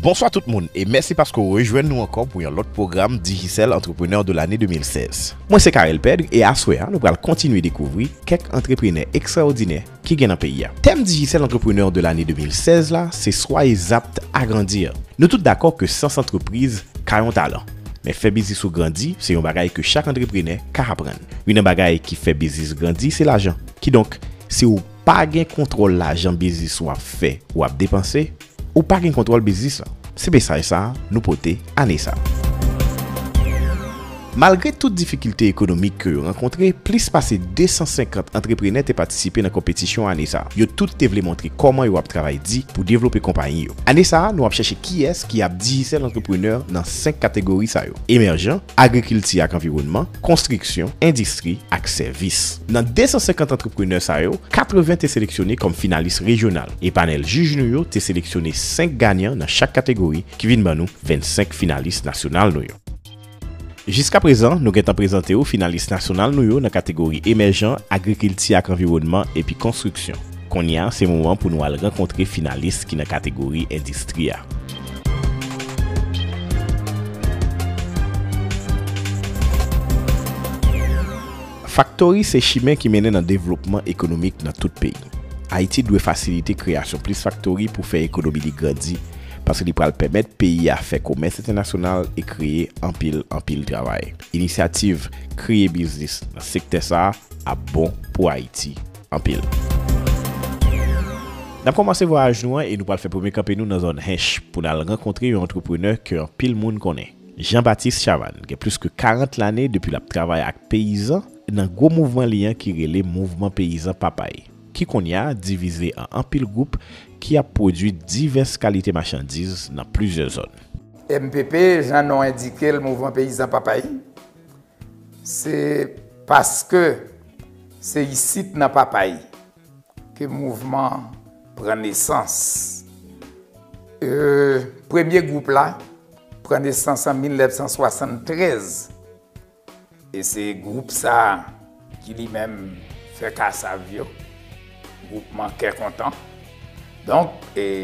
Bonswa tout moun e mèsi paske w rejwenn nou ankò pou yon lòt pwogram Digicel Entrepreneur de l'année 2016. Mwen se Carel Pedre e aswè a nou pral kontinye dekouvri kèk antreprenè ekstraòdinè ki gen nan peyi a. Tèm Digicel Entrepreneur de l'année 2016 la se Soyez aptes à grandir. Nou tout dakò ke sans antrepriz ka yon talan. Men fè biznis ou grandi se yon bagay ke chak antreprenè ka aprann. Youn nan bagay ki fè biznis grandi se lajan. Kidonk, si w. Pa gen kontwòl lajan biznis w ap fè, w ap depanse, ou pa gen kontwòl biznis lan. Se mesaj sa nou pote ane sa. Malgre tout difikilte ekonomik ke yo rankontre, plis pase 250 antreprenè te patisipe nan konpetisyon ane sa. Yo tout te vle montre kòman yo ap travay di pou devlope konpayi yo. Ane sa nou ap chèche kiyès ki ap Digicel Entrepreneur nan 5 kategori sa yo, Emèjan, Agrikilti ak Anviwònman, Konstriksyon, Endistri ak Sèvis. Nan 250 antreprenè sa yo, 80 te seleksyone kòm finalis rejyonal, e panèl jij nou yo te seleksyone 5 ganyan nan chak kategori ki vin ban nou 25 finalis nasyonal nou yo. Jiskaprezan, nou gentan prezante ou finalis nasyonal nou yo nan kategori Emèjan, Agrikilti ak Anviwònman epi Konstriksyon. Kounye a, se moman pou nou al rankontre finalis ki nan kategori Endistri a. Faktori se chimen ki mennen nan devlopman ekonomik nan tout peyi. Ayiti dwe fasilite kreyasyon plis faktori pou fè ekonomi li grandi, paske li pral pèmèt peyi a fè komès entènasyonal e kreye anpil anpil travay. Inisyativ kreye biznis nan sektè sa a ap bon pou Ayiti anpil. N ap kòmanse vwayaj nou an e nou pral fè premye kanpe nou nan zòn Hinche pou n al rankontre yon antreprenè ke anpil moun konnen. Jean Baptiste Chavanne gen plis ke 40 lane depi lap travay ak peyizan nan gwo mouvman li an ki rele Mouvman Peyizan Papay, ki kounye a divize an anpil gwoup ki ap pwodui divès kalite machandiz nan plizyè zòn. Mpp, jan non endike l Mouvman Peyizan Papay, se paske se isit nan Papay Ke mouvman an pran nesans. Premye gwoup la pran nesans an 1973. E se gwoup sa a ki li menm fè kasav yo. Gwoupman kè kontan. Donk,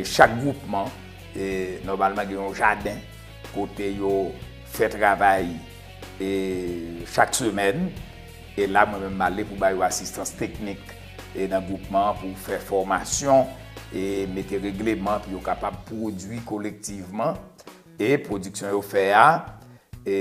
chak gwoupman, nòmalman gen yon jaden kote yo fè travay E chak semèn, e la mwen menm m ale pou ba yo asistans teknik e nan gwoupman an pou fè fòmasyon e mete regleman pou yo kapab pwodui kolektivman e pwodiksyon yo fè a e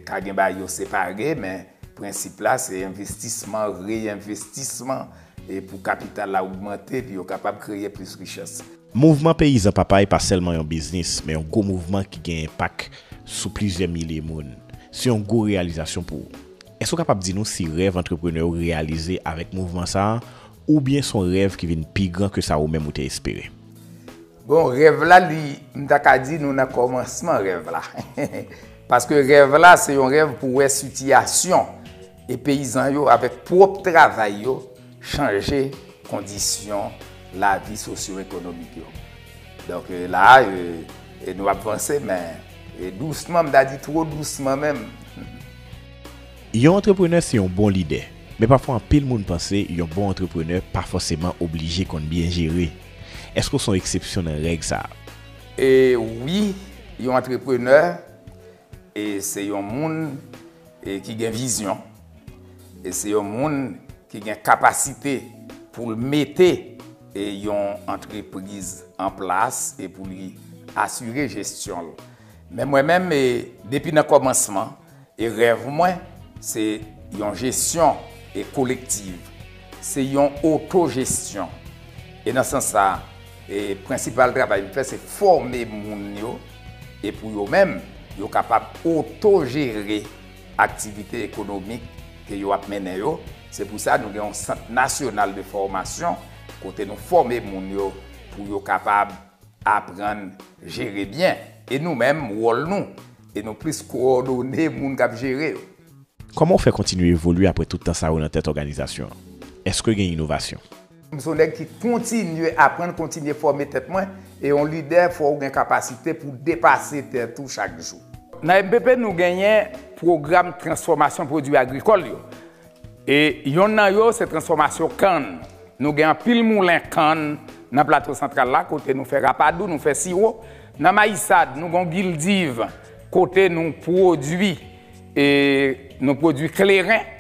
ka gen bagay yo separe men prensip la se envestisman, reyenvestisman e pou kapital la ogmante pou yo kapab kreye plis richès. Mouvman peyizan Papay pa sèlman yon biznis, men yon gwo mouvman ki gen enpak sou plizyè milye moun. Se yon gwo reyalizasyon pou ou. Èske ou kapab di nou si rèv antreprenè ou reyalize avèk mouvman sa a, oubyen son rèv ki vin pi gran ke sa ou menm ou te espere? Bon, rèv la li, m ta ka di nou nan kòmansman rèv la. Paske rèv la se yon rèv pou wè sitiyasyon. E peyizan yo avèk pwòp travay yo chanje kondisyon lavi sosyo ekonomik yo. Donk la a nou ap vanse men dousman, m ta di two dousman menm. Yon antreprenè se yon bon lidè. Men pafwa anpil moun panse yon bon antreprenè pa fòseman oblije konn byen jere. Èske w se yon eksepsyon nan règ sa a? E wi, yon antreprenè E se yon moun e ki gen vizyon. E se yon moun ki gen kapasite pou l mete e yon antrepriz an plas e pou li asire jesyon l. Men mwen menm e depi nan kòmansman e rèv mwen se yon jesyon e kolektiv. Se yon oto jesyon. E nan sans sa e prensipal travay m fè se fòme moun yo. e pou yo menm, yo kapab oto-jere aktivite ekonomik ke yo ap mennen yo, se pou sa nou gen yon sant nasyonal de fòmasyon kote nou fòme moun yo pou yo kapab aprann jere byen, e nou menm wòl nou, e nou plis kowòdone moun kap jere yo. Kòman ou fè kontinye evolye apre tout tan sa yo nan tèt òganizasyon an? Eske gen inovasyon? M son nèg ki kontinye aprann, kontinye fòme tèt mwen, e yon lidè fò ou gen kapasite pou depase tèt ou chak jou. Nan mpp nou genyen pwogram transfòmasyon pwodwi agrikòl yo, e yonn nan yo se transfòmasyon kann. Nou gen anpil moulen kann nan Plato Santral la kote nou fè rapadou, nou fè siwo. Nan Mayisad nou gen yon gildiv kote nou pwodwi kleren.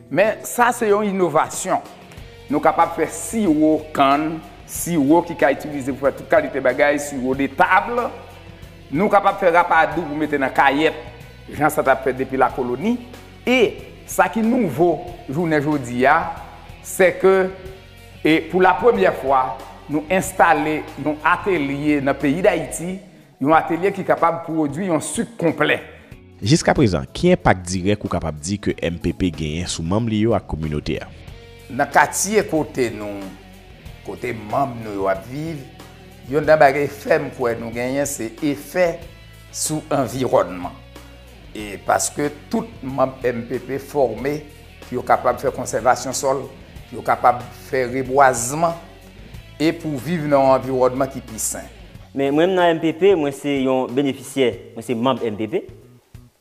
Men sa se yon inovasyon. Nou kapab fè siwo kann, siwo ki ka itilize pou fè tout kalite bagay, siwo de table. Nou kapab fè rapadou pou mete nan kayèt, jan sa t ap fèt depi lakoloni. E, sa ki nouvo jounen jodi a, se ke e pou la premyè fwa, nou enstale yon atelye nan peyi Dayiti, yon atelye ki kapab pwodui yon sik konplè. Jiska prezan, ki enpak dirèk ou kapab di ke mpp genyen sou manm li yo ak kominote a? Nan katye kote nou, kote manm nou yo ap viv, yonn nan bagay fèm kwè nou genyen se efè sou anviwònman. E paske tout manm mpp fòme pou yo kapab fè konsèvasyon sòl, pou yo kapab fè rebwazman. e pou viv nan yon anviwònman ki pi sen. Men mwen nan mpp, mwen se yon benefisyè, mwen se manb mpp,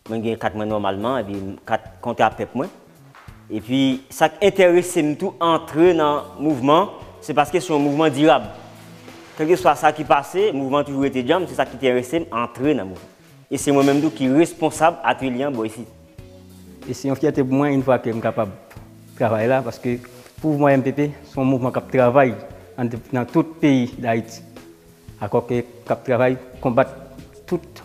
mwen gen kat mwen nòmalman epi kat kontra pèp mwen. Epi sa k enterese m tou antre nan mouvman an, se paske se yon mouvman dirab. Kèlkeswa sa ki pase, mouvman an toujou rete djanm, se sa k ki te enterese m antre nan mouvman. E se mwen menm tou ki responsab atelye an bò isit. E se yon fyète pou mwen infwa ke m kapab travay la paske pouvwa mpp se yon mouvman k ap travay nan tout peyi Dayiti. Akò ke k ap travay konbat tout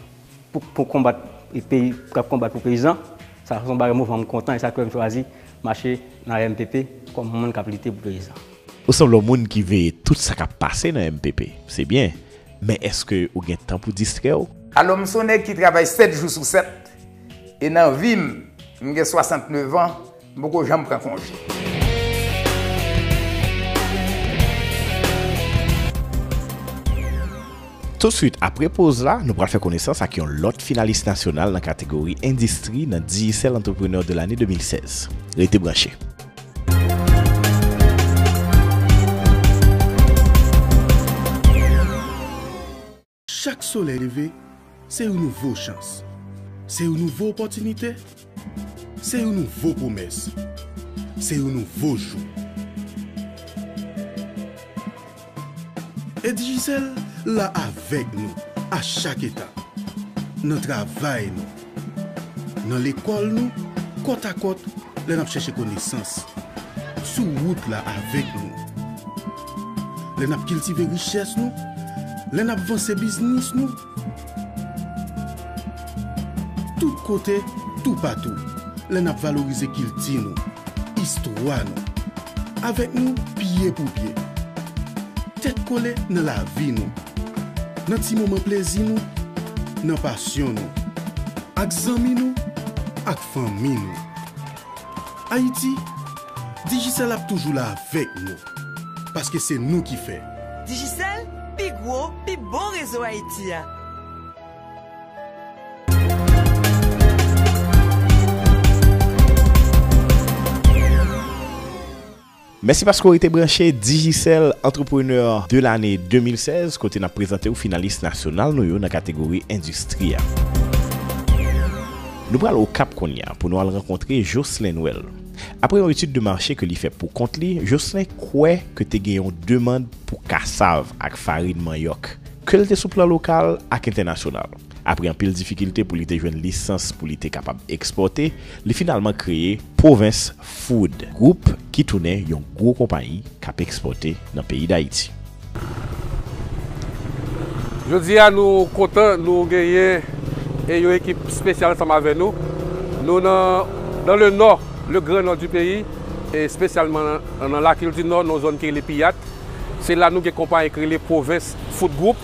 pou konbat peyi k ap konbat pou peyizan. Sa se yon bagay mouvman m kontan e sa k fè m chwazi mache nan mpp kòm moun k ap lite pou peyizan. Ou sanble yon moun ki veye tout sa k ap pase nan mpp. Se byen. Men èske ou gen tan pou distrè w? Alò m s on nèg ki travay 7 jou sou 7 e nan vi m, m gen 69 an, m poko janm pran konje. Tousuit apre poz la, nou pral fè konesans ak yon lòt finalis nasyonal nan kategori endistri nan Digicel Entrepreneur de l'année 2016. Rete branche. Chak solèy leve, se yon nouvo chans, se yon nouvo opòtinite, se yon nouvo pwomès, se yon nouvo jou. E Digicel la avèk nou a chak etap, nan travay nou, nan lekòl nou, kòt a kòt lè n ap chèche konesans, sou wout la avèk nou lè n ap kiltive richès nou, lè n ap vanse biznis nou. Tout kote, toupatou, lè n ap valorize kilti nou, istwa nou. Avèk nou pye pou pye. Tèt kole nan lavi nou. Nan ti moman plezi nou, nan pasyon nou. Ak zanmi nou, ak fanmi nou. Ayiti, Digicel ap toujou la avèk nou. Paske se nou ki fè. Digicel, pi gwo, pi bon rezo Ayiti a. Mèsi paske w rete branche Digicel Entrepreneur de l'année 2016, kote n ap prezante w finalis nasyonal nou yo nan kategori endistri a. Nou pral Okap kounye a pou nou al rankontre Jocelin Noël. Apre yon etid de mache ke li fè pou kont li, Joslin kwè ke te gen yon demand pou kasav ak farin manyòk, ke l te sou plan lokal ak entènasyonal. Apre anpil difikilte pou li te jwenn lisans pou li te kapab ekspòte, li finalman kreye Provence Food Group ki tounen yon gwo konpayi k ap ekspòte nan peyi Dayiti. Jodi a nou kontan nou genyen e yon ekip spesyal ansanm avè nou. Nou nan dan le nò, le gran nò di peyi e spesyalman nan lakil di nò nan zòn ki rele Piyat. Se la nou gen konpayi ki rele Pwovens Food Group.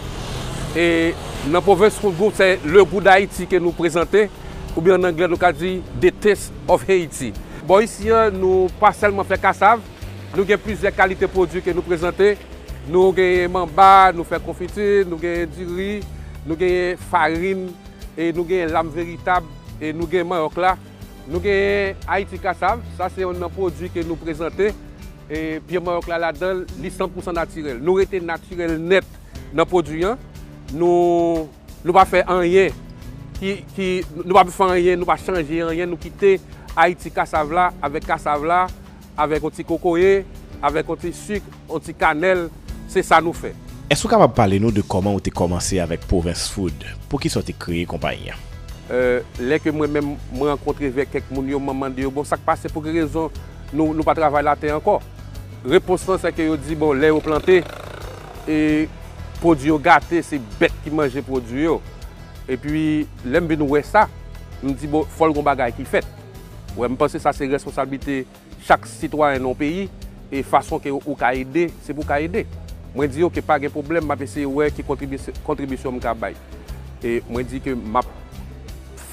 E nan Pwovens Food Group se le gou dayiti ke nou prezante oubyen an anglè nou ka di the taste of Haiti. Bò isi an nou pa sèlman fè kasav, Nou gen plizyè kalite pwodui ke nou prezante, nou genyen manba, nou fè konfiti, nou genyen diri, nou genyen farin, e nou genyen lam veritab, e nou gen manyòk la. Nou genyen Ayiti Kasav, sa se yonn nan pwodui ke nou prezante, e pye manyòk la ladanl, li san pousan natirèl. Nou rete natirèl nèt nan pwodui an. Nou. Nou pa fè anyen ki ki nou pa fè anyen nou pa chanje anyen nou kite ayiti kasav la avèk kasav la avèk yon ti kokoye avèk yon ti suk yon ti kanèl se sa nou fè. Èske ou kapab pale nou de kòman ou te kòmanse avèk Provence Food? Poukisa ou te kreye konpayi an? Lè ke mwen menm mwen rankontre vèk kèk moun yo mwen mande yo bon sak pase pou ki rezon nou nou pa travay latè ankò? Repons lan sè ke yo di bon lè yo plante. E pwodwi yo gate se bèt ki manje pwodwi yo. Epi lè m vin wè sa, m di bon fò l gon bagay ki fèt. Wè m panse sa se responsablite chak sitwayen nan yon peyi e fason ke ou ka ede se pou w ka ede. Mwen di yo ke pa gen pwoblèm m ap eseye wè ki kontribisyon m ka bay. E mwen di ke m ap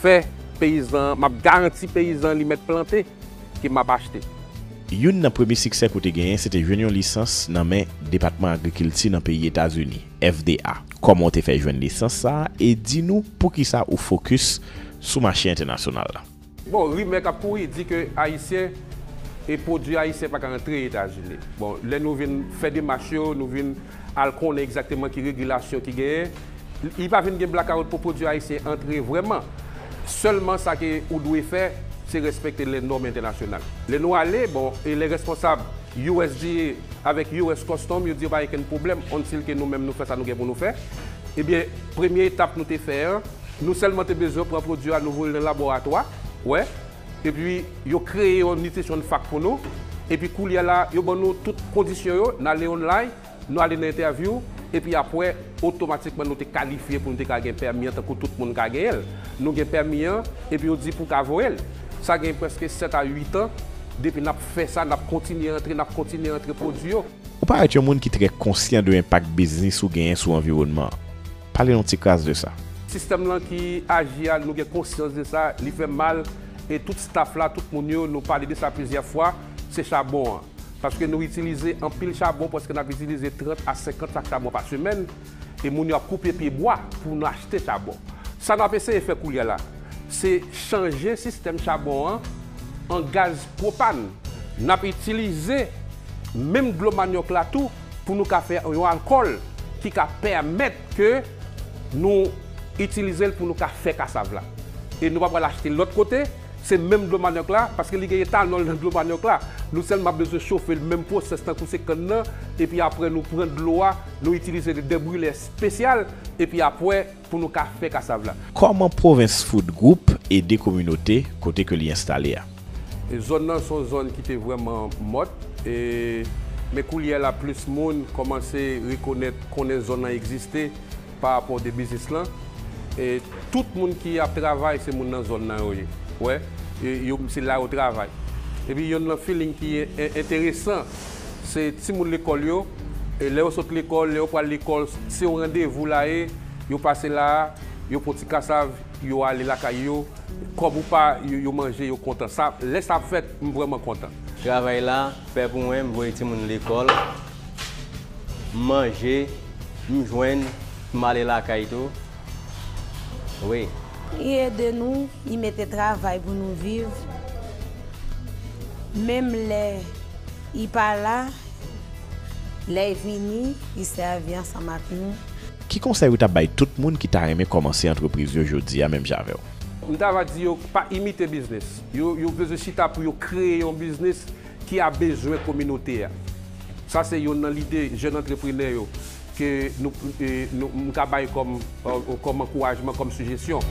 fè peyizan, m ap garanti peyizan li mèt plante ke m ap achte. Youn nan premye siksè ke w te genyen se te jwenn yon lisans nan men Depatman Agrikilti nan peyi Etazini, FDA. Kòman w te fè jwenn lisans sa a e di nou poukisa ou fokis sou mache entènasyonal la? Bon, rimè k ap kouri di ke Ayisyen e pwodui Ayisyen pa ka antre Etazini. Bon, lè nou vin fè demach yo, nou vin. al konnen egzakteman ki regilasyon ki genyen, li pa vin gen blakawout pou pwodui ayisyen antre vrèman. Sèlman sa ke ou dwe fè, se respekte lè nòm entènasyonal. Lè nou ale, bon, e lè responsab usda avèk us Custom yo di yo pa gen kenn pwoblèm until ke nou menm nou fè sa nou gen pou nou fè, ebyen premye etap nou te fè an, nou sèlman te bezwen pran pwodui a nou voye l nan laboratwa, wè, Epi yo kreye yon nutrition fact pou nou, epi koulye la yo ban nou tout kondisyon yo, n ale online, nou ale nan entèvyou, epi apwè otomatikman nou te kalifye pou nou te ka gen pèmi an tankou tout moun ka genyen l. Nou gen pèmi an, epi yo di pou w ka voye l. Sa gen prèske 7 a 8 an depi n ap fè sa, n ap kontinye antre, n ap kontinye antre pwodui yo. Ou parèt yon moun ki trè konsyan de enpak biznis ou genyen sou anviwònman an. Pale yon ti kras de sa. Sistèm lan ki aji a nou gen konsyans de sa li fè mal e tout staff la tout moun yo nou pale de sa plizyè fwa se chabon an paske nou itilize anpil chabon prèske nap itilize 30 a 50 sak chabon pa semèn e moun yo ap koupe pye bwa pou nou achte chabon sa nap eseye fè koulye la se chanje sistèm chabon an an gaz pwopàn nap itilize menm dlo manyòk la tou. pou nou ka fè yon alkòl ki ka pèmèt ke nou itilize l pou nou ka fè kasav la. E nou pa pral achte lòt kote, se menm dlo manòk la, paske li gen etanòl nan dlo manòk la, nou sèlman ap bezwen chofe l, menm pwosès tankou se kann nan, epi aprè nou pran dlo a, nou itilize de dèbrilè espesyal, epi apwè. Pou nou ka fè kasav la. Kòman Provence Food Group ede kominote kote ke li enstale a? Zòn nan son zòn ki te vrèman mòt e men koulyè la plis moun kòmanse rekonèt konnen zòn nan egziste pa rapò de biznis lan e tout moun ki ap travay se moun nan zòn nan yo ye wè yo se la yo travay epi yonn nan feeling ki enteresan Se timoun lekòl yo, e lè yo sot lekòl, lè yo pral lekòl, se yon randevou la ye, yo pase la a, yo pran ti kasav, yo ale lakay yo, kòb ou pa, yo manje, yo kontan. Sa, lè sa ap fèt, m vrèman kontan. Travay la fè pou mwen, m voye timoun lekòl, m manje, m jwenn, m ale lakay tou. Wi. Li ede nou, li mete travay pou nou viv, menm lè li pa la, lè li vini, li sèvi ansanm ak nou. Ki konsèy ou ta bay tout moun ki ta renmen kòmanse antrepriz yo jodi a menm jan avè w? M ta va di yo pa imite biznis yo, yo bezwen chita pou yo kreye yon biznis ki a bezwen kominote a. Sa se yonn nan lide jèn antreprenè yo ke nou m ka bay kòm kòm ankourajman, kòm sijesyon.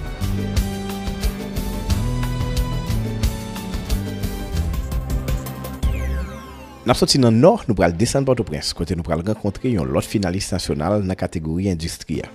N ap soti nan Nò, nou pral desann Pòtoprens, kote nou pral rankontre yon lòt finalis nasyonal nan kategori endistri a.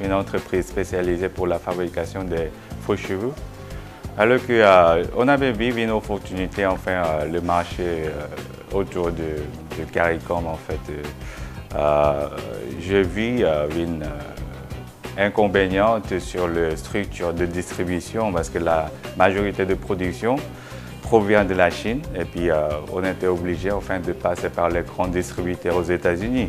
yon antrepriz spesyalize pou la fabrikasyon de fo chevu, alò ke Onabv vin opòtinite anfen le mache otou de Karikòm anfèt. Je vi vin enkonbenyant sur le strikti de distribisyon paske la majorite de pwodiksyon pwovyan de la Chin epi on ete oblije anfen de pase par le gran distribitè o Zetazini.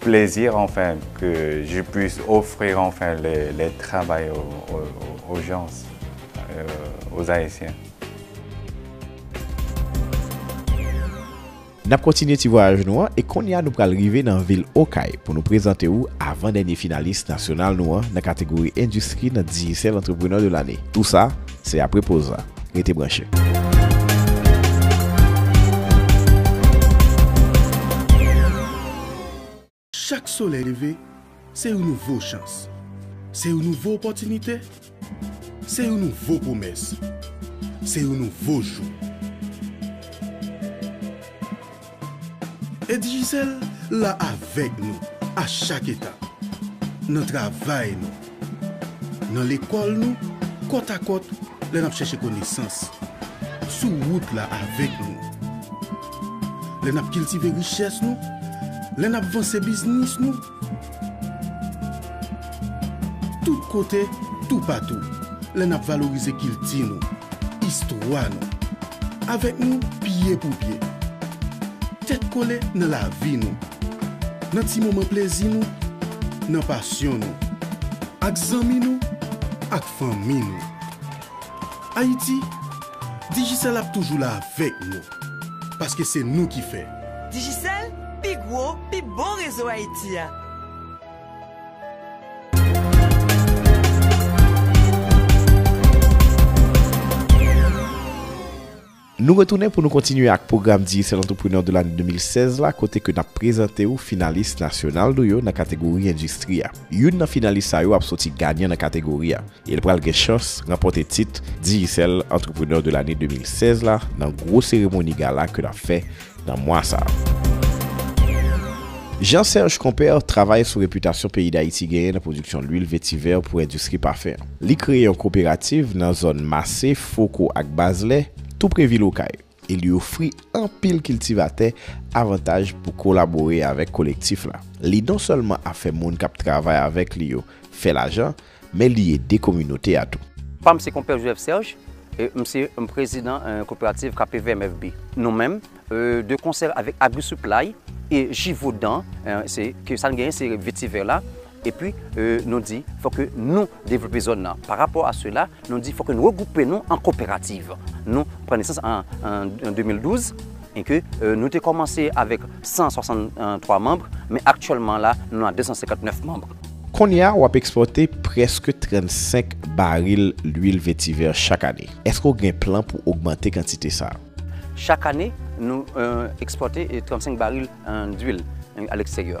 plaisir enfin que je puisse offrir enfin les, les travail aux, aux, aux gens, euh, aux Haïtiens. Nap kontinye ti vwayaj nou an e konnya nou pral rive nan vil Okay pou nou prezante ou avan dènye finalis nasyonal nou an nan kategori endistri nan Digicel Entrepreneur de l'année. Tou sa, Se apre poz la. Rete branche. Chak solèy leve, se yon nouvo chans, se yon nouvo opòtinite, se yon nouvo pwomès, se yon nouvo jou. E Digicel la avèk nou a chak etap, nan travay nou, nan lekòl nou, kòt a kòt lè n ap chèche konesans, sou wout la avèk nou, lè n ap kiltive richès nou, lè n ap vanse biznis nou, Tout kote, toupatou, lè n ap valorize kilti nou, istwa nou. Avèk nou pye pou pye. Tèt kole nan lavi nou. Nan ti moman plezi nou, nan pasyon nou. Ak zanmi nou, ak fanmi nou. Ayiti, Digicel ap toujou la avèk nou. Paske se nou ki fè. Digicel, pi gwo, pi bon rezo Ayiti a! Nou retounen pou nou kontinye ak pwogram Digicel Entrepreneur de l'année 2016 la kote ke nap prezante ou finalis nasyonal nou yo nan kategori endistri a. Youn nan finalis sa yo ap soti ganyan nan kategori a e l pral gen chans ranpòte tit Digicel Entrepreneur de l'année 2016 la nan gwo seremoni gala ke n ap fè nan mwa sa a. Jean Serge Compère travay sou repitasyon peyi Dayiti genyen nan pwodiksyon lwil vetivè pou endistri pafen an. Li kreye yon koperativ nan zòn Mase, Foko ak Bazlè, tou pre vil Okay. e li ofri anpil kiltivatè avantaj pou kolabore avèk kolektif la. Li non sèlman ap fè moun k ap travay avèk li yo fè lajan, men li ede kominote a tou. Pa m se Konpè Joseph Serge, m se prezidan koperativ Kape Vè MFB. Nou menm, de konsè avèk Agri Supply e Givaudan, ke sa n genyen se vetivè la, Epi nou di fò ke nou devlope zòn nan. Pa rapò a sela, nou di fò ke nou regwoupe nou an koperativ. Nou pran nesans an 2012, e ke nou te kòmanse avèk 163 manb, men aktyèlman la nou a 259 manb. Kounye a w ap ekspòte prèske 35 baril lwil vetivè chak ane. Eske w gen plan pou ogmante kantite sa a? Chak ane, nou ekspòte 35 baril lwil a leksteryè.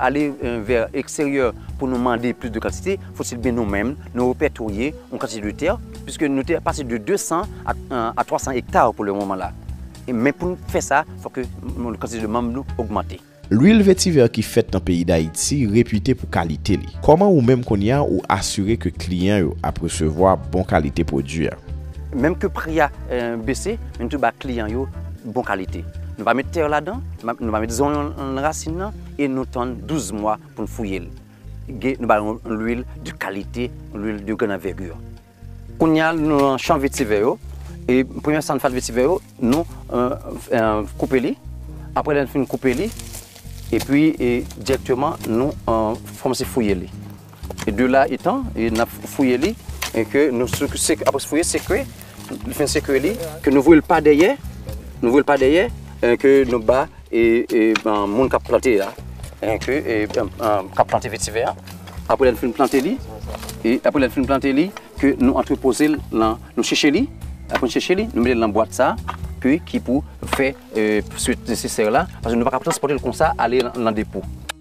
ale vè eksteryè pou nou mande plis de kantite, fotil byen nou menm nou repètorye yon kantite de tè, piske nou tè pase de 200 a 300 ekta pou le moman la. Men pou nou fè sa, fò ke kantite de manm nou ogmante. Lwil vetivè ki fèt nan peyi Dayiti repite pou kalite li. Kòman ou menm kounye a ou asire ke kliyan yo ap resevwa bon kalite pwodwi a? Menm ke pri a bese, men nou toujou ba kliyan yo bon kalite. Nou pa met tè ladan. Nou va met zonyon nan rasin nan e nou tann 12 mwa pou n fouye l. Nou ba l yon lwil de kalite, yon lwil de gran anvègi. Kounye a nou nan chan vetivè yo. E premye san fad vetivè yo, nou koupe li. Apre lè n fin koupe li, epi dirèkteman nou kòmanse fouye li. De la etan e nap fouye li e ke nou seke apres fouye seke li fen seke li ke nou voye l pa dèyè nou voye l pa dèyè e ke nou ba e e moun kap plante a e ke e kap plante vetivè a apre lè nou fin plante li e apre lè nou fin plante li ke nou antre poze l nan nou cheche li apre nou cheche li nou mete l nan bwat sa ke ki pou fè e switt nesesè la paske nou paka transpòte l konsa ale nan depo.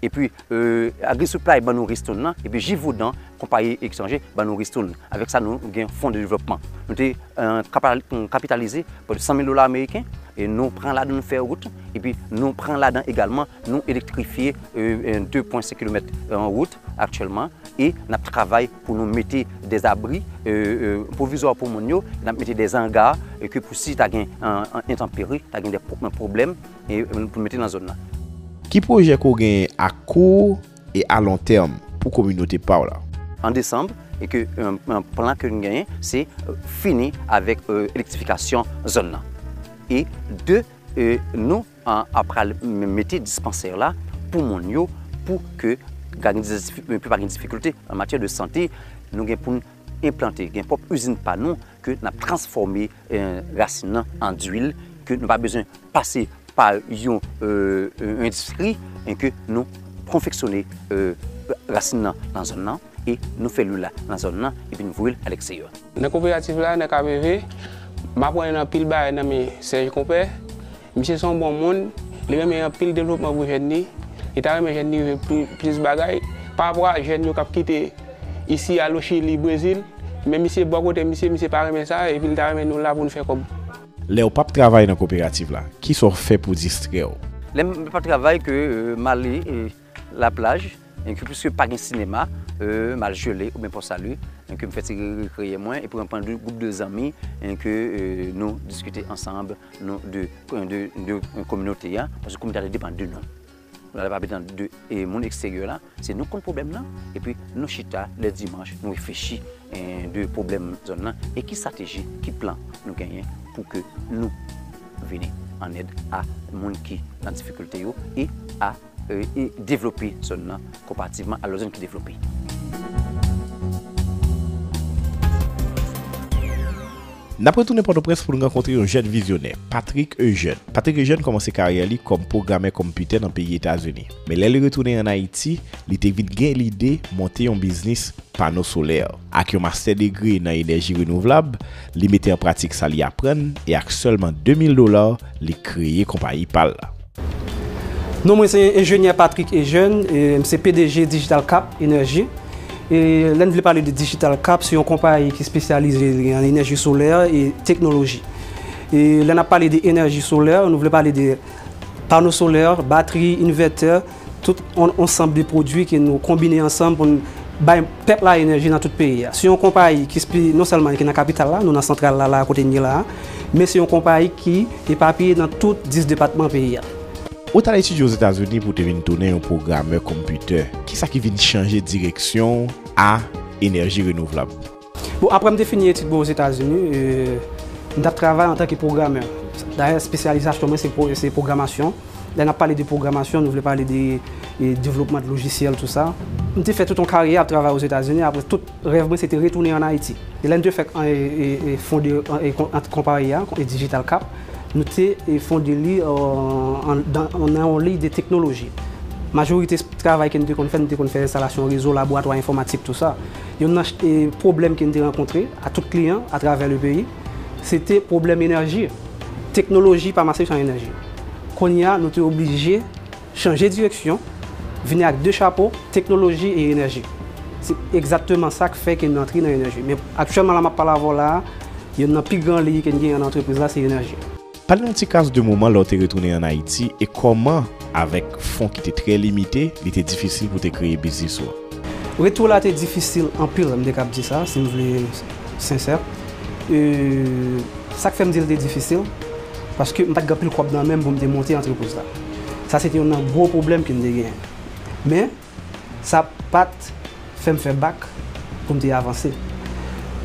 Epi Agri Supply ban nou ristoun lan, epi Givaudan, konpayi etranje, ban nou ristoun. Avèk sa nou gen fon de devlòpman. Nou te kapitalize pòt 100 mil dola ameriken, e nou pran ladan nou fè wout, epi nou pran ladan egalman nou elektrifye 2 pwen 5 kilomèt wout aktyèlman, e n ap travay pou nou mete dè abri pwovizwa pou moun yo, e n ap mete dè anga, ke pou si ta gen entanperi, ta gen dè pwoblèm. e pou mete nan zòn nan. Ki pwojè ke w genyen a kou e a lon tèm pou kominote pa w la? An desanm, e ke plan ke n genyen se fini avèk elektrifikasyon zòn nan. E de nou pral mete dispansè la pou moun yo pou ke pa gen difikilte an matyè de sante, nou gen pou n. enplante, gen pwòp izin pa nou ke nap transfòme rasin nan an duil ke nou pa bezwen pase pa yon endistri e ke nou konfeksyone rasin nan nan zòn nan e nou fè luil la nan zòn nan epi nou voye l alekseyò. Nan koperativ la nan Kamevé, m aprann anpil bagay nan men Serge Compère Misye son bon moun, li renmen anpil devlopman pou jèn li, li ta renmen jèn li rive plis bagay, pa rapò a jèn yo kap kite isi al o chili, brezil, men misye bò kote misye, misye pa renmen sa epi li ta renmen nou la pou nou fè kòb. Lèw pap travay nan koperativ la, kisa w fè pou distrèw? Lèm pap travay ke m ale. La plaj, en ke pwiske pa gen sinema, m al Gelée oubyen Port Salut, en ke m fè ti rekreye mwen, epi mwen pran de gwoup de zanmi, en ke nou diskite ansanm, nou de, de kominote a, paske kominote a te depann de nou. Nou ta pale tan de moun eksteryè la, se nou k konn pwoblèm nan, epi nou chita lè dimanch, nou reflechi de pwoblèm zòn nan, e ki strateji, ki plan nou genyen pou ke nou vini an èd a moun ki nan difikilte yo e a. devlope zòn nan konparativman a lòt zòn ki devlope. N ap retounen Pòtoprens pou n rankontre yon jèn vizyonè, Patrick Eugène. Patrick Eugène kòmanse karyè li kòm pwogramè konmpitè nan peyi Etazini. Men lè li retounen ann Ayiti, li te vin gen lide monte yon biznis pano solè. Ak yon mastè degre nan enèji renouvlab, li mete an pratik sa li aprann e ak sèlman 2 mil dola, li kreye konpayi pa l la. Non mwen se enjenyè Patrick Eugène, m se pdg Digital Cap Energy. Lè n vle pale de Digital Cap se yon konpayi ki spesyalize li an enèji solè e teknoloji. Lè n ap pale de enèji solè nou vle pale de pano solè, batri, invètè. Tout on ansanb de pwodwi ke nou konbine ansanm pou n bay pèp la enèji nan tout peyi a. Se yon konpayi ki spi non sèlman li ki nan kapital la, nou nan santral la la a kote n ye la a, men se yon konpayi ki epapiye nan tout 10 depatman peyi a. Ou t al etidye Ozetazini pou w te vin tounen yon pwogramè konmpitè. Kisa ki vin chanje direksyon w a enèji renouvlab? Bon, apre m te fini etid mwen Ozetazini, m t ap travay antanke pwogrammè. Dayè, espesyalizasyon mwen se pwogramasyon. Lè n ap pale de pwogramasyon, nou vle pale de devlopman de lojisyèl, tou sa. M te fè tout yon karyè ap travay Ozetazini. Apre, tout rèv mwen se te retounen ann Ayiti. E lè n te fèk fonde konpayi a, Digital Cap, nou te fonde li nan yon liy de teknoloji. Majorite travay ke nou te konn fè, nou te konn fè enstalasyon rezo, laboratwa enfòmatik, tou sa. Yonn nan pwoblèm ke n te rankontre a tout kliyan a travè le peyi, se te pwoblèm enèji. Teknoloji pa mache san enèji. Kounye a, nou te oblije chanje direksyon, vini ak 2 chapo, teknoloji e enèji. Se egzatteman sa k fè ke n antre nan enèji. Men aktyèlman la m ap pale avè w la a, yonn nan pi gran liy ke n genyen nan antrepriz la se enèji. Pale nou ti kas de moman lè w te retounen an Ayiti e kòman avèk fon ki te trè limite, li te difisil pou te kreye biznis ou an. Retou la te difisil anpil, m te kab di sa si m vle sensè. Sa k fè m di l te difisil, paske m pa t gen anpil kòb nan men m pou m te monte antrepriz la. Sa se te youn nan gwo pwoblèm ke m te genyen. Men. Sa pa t fè m fè bak pou m te avanse.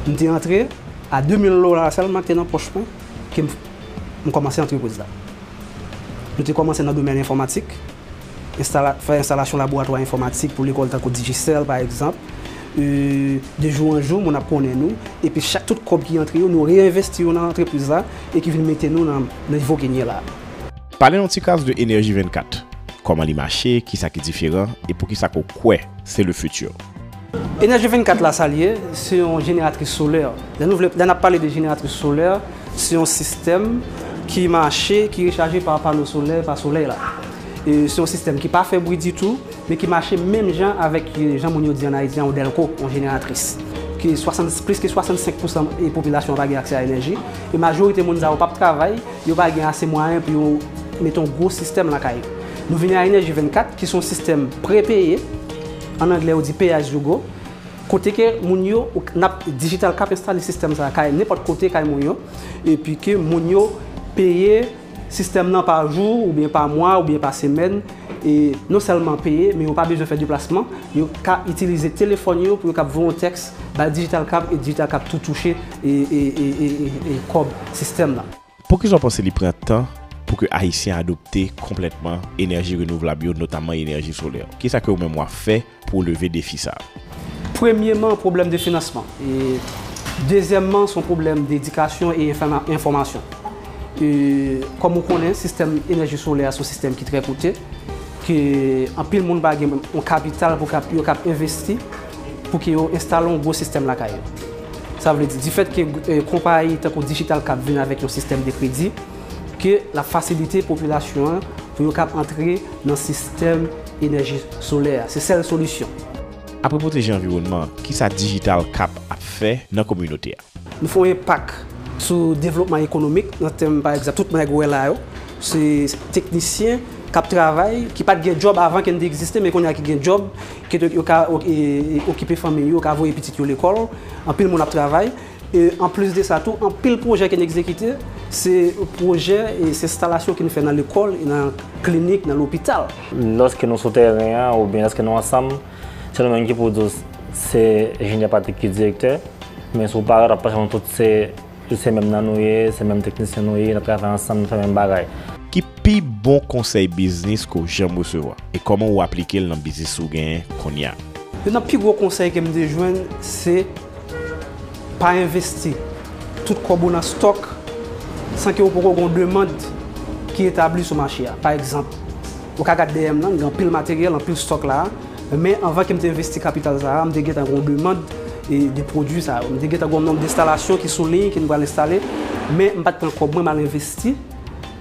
M te antre a 2 mil dola sèlman ki te nan pòch mwen ke m kòmanse antrepriz la. M te kòmanse nan domèn enfòmatik, fè enstalasyon laboratwa enfòmatik pou lekòl tankou Digicel pa egzanp. De jou an jou moun ap konnen nou epi chak tout kòb ki antre yo nou reyenvesti yo nan antrepriz la e ki vin mete nou nan nivo ke n ye la a. Pale yon ti kas de Energie 24. Koman li mache, kisa ki diferan e poukisa ke w kwè se le futur? Energie 24 la sa li ye, se yon jeneratris solè. Lè nou vle, lè nap pale de jeneratris solè, se yon sistèm ki mache, ki rechaje pa pano solè, pa solèy la. E se yon sistèm ki pa fè bri ditou, men ki mache menm jan avèk jan moun yo di an Ayiti an yon dèlko, yon jeneratris. Ke 60, plis ke 65 pousan popilasyon an pa gen aksè a enèji, e majorite moun sa yo pap travay, Yo pa gen ase mwayen pou yo mete yon gwo sistèm lakay yo. Nou vini a Enèji 24 ki se yon sistèm prepeye, an anglè yo di pay as you go, kote ke moun yo, n ap dijital k ap enstale sistèm sa kay nenpòt kote kay moun yo, epi ke moun yo peye sistèm nan pa jou oubyen pa mwa oubyen pa semèn, e non sèlman peye men yo pa bezwen fè deplasman, yo ka itilize telefòn yo pou yo kab voye yon tèks bay DigitalCab e DigitalCab tou touche kòb sistèm la. Poukisa w panse li pran tan pou ke Ayisyen adopte konplètman enèji renouvlab yo, notamman enèji solè? Kisa ke ou menm w ap fè pou leve defi sa a. Premyeman, pwoblèm de finansman. Dezyèmman, se yon pwoblèm de edikasyon e enfòmasyon. Kòm ou konnen, sistèm enèji solè a se yon sistèm ki trè koute, ke anpil moun pa gen menm yon kapital pou yo kab envesti pou ke yo enstale yon gwo sistèm lakay yo. Sa vle di, difèt ke konpayi tankou Digital Cap vin avèk yon sistèm de kredi, ke l ap fasilite popilasyon an pou yo kab antre nan sistèm enèji solè a. Se sèl solisyon. Apre pwoteje anviwònman an, kisa Digital Cap ap fè nan kominote a? Nou fè yon enpak sou devlopman ekonomik nan tèm pa egzanp tout nèg ou wè la yo se teknisyen k ap travay ki pa t gen djòb avan ke n te egziste men kounye a ki gen djòb ke yo ka okipe fanmi yo, yo ka voye pitit yo lekòl, anpil moun ap travay. E anplis de sa tou, anpil pwojè ke n egzekite, se pwojè, se enstalasyon ke nou fè nan lekòl, nan klinik, nan lopital. Lòske nou sou tèren an oubyen lòske nou ansanm, se nou menm ki pou di w se enjenyè Patrick ki direktè, men si w parèt w ap panse nou tout se menm nan nou ye, se menm teknisyen nou ye, n ap travay ansanm, n ap fè menm bagay. Ki pi bon konsèy biznis ke w janm resevwa, e kòman ou aplike l nan biznis ou genyen kounye a? Youn nan pi gwo konsèy ke m te jwenn se. Pa envesti tout kòb ou nan stòk san ke ou poko gen yon demand ki etabli sou mache a. Pa egzanp, ou ka gad dèyè m lan, m gen anpil materyèl, anpil stòk la a, men anvan ke m te envesti kapital sa a, m te gentan gen yon demand de pwodui sa yo. M te gentan gen yon nonb denstalasyon ki sou liy ke m pral enstale, men m pa t pran kòb mwen m al envesti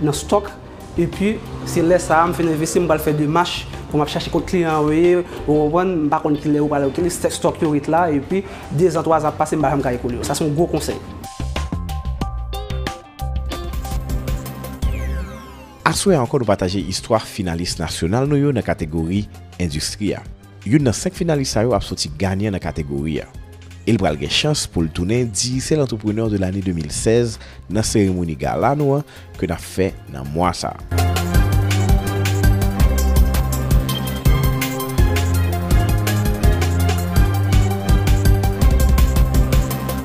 nan stòk. Epi, se lè sa a m fin envesti, m pral fè demach pou m ap chache kot kliyan yo ye, ou konprann, m pa konn ki lè ou pral rete, lè stòk yo ret la, epi, dezan, twazan ap pase, m pa janm ka ekoule yo. Sa se yon gwo konsèy. Aswè a ankò nou pataje istwa finalis nasyonal nou yo nan kategori Endistri a. Youn nan 5 finalis sa yo ap soti ganyan nan kategori a e l pral gen chans pou l tounen Digicel Entrepreneur de l'année 2016 nan seremoni gala nou an ke n ap fè nan mwa sa a.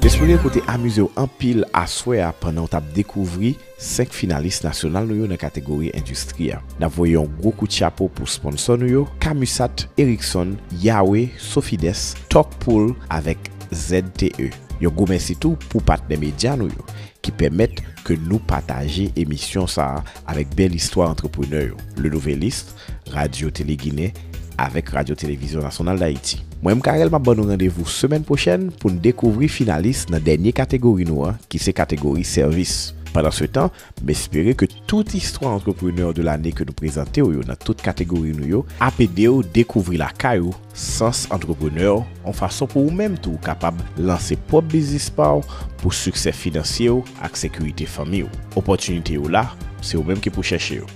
Jespere ou te amize w anpil aswè a pandan w t ap dekouvri. 5 finalis nasyonal nou yo nan kategori endistri a. N ap voye yon gwo kout chapo pou sponsò nou yo, Camusat, Erickson, Yawe, Sofides, Talk Pool avèk ZTE. Yon gwo mèsi tou pou patnè medya nou yo ki pèmèt ke nou pataje emisyon sa a avèk bèl istwa antreprenè yo, Le Nouvelliste, Radyo Tele Ginen avèk Radyo Televizyon Nasyonal Dayiti. Mwen M. Carel map ban nou randevou semèn pwochèn pou n dekouvri finalis nan dènye kategori nou an ki se kategori sèvis. Pandansetan, m espere ke tout istwa antreprenè de lane ke nou prezante w yo nan tout kategori nou yo ap ede w dekouvri lakay ou sans antreprenè on fason pou ou menm tou kapab lanse pwòp biznis pa w pou siksè finansye w ak sekirite fanmi w. Opòtinite yo la, se ou menm ki pou chèche yo.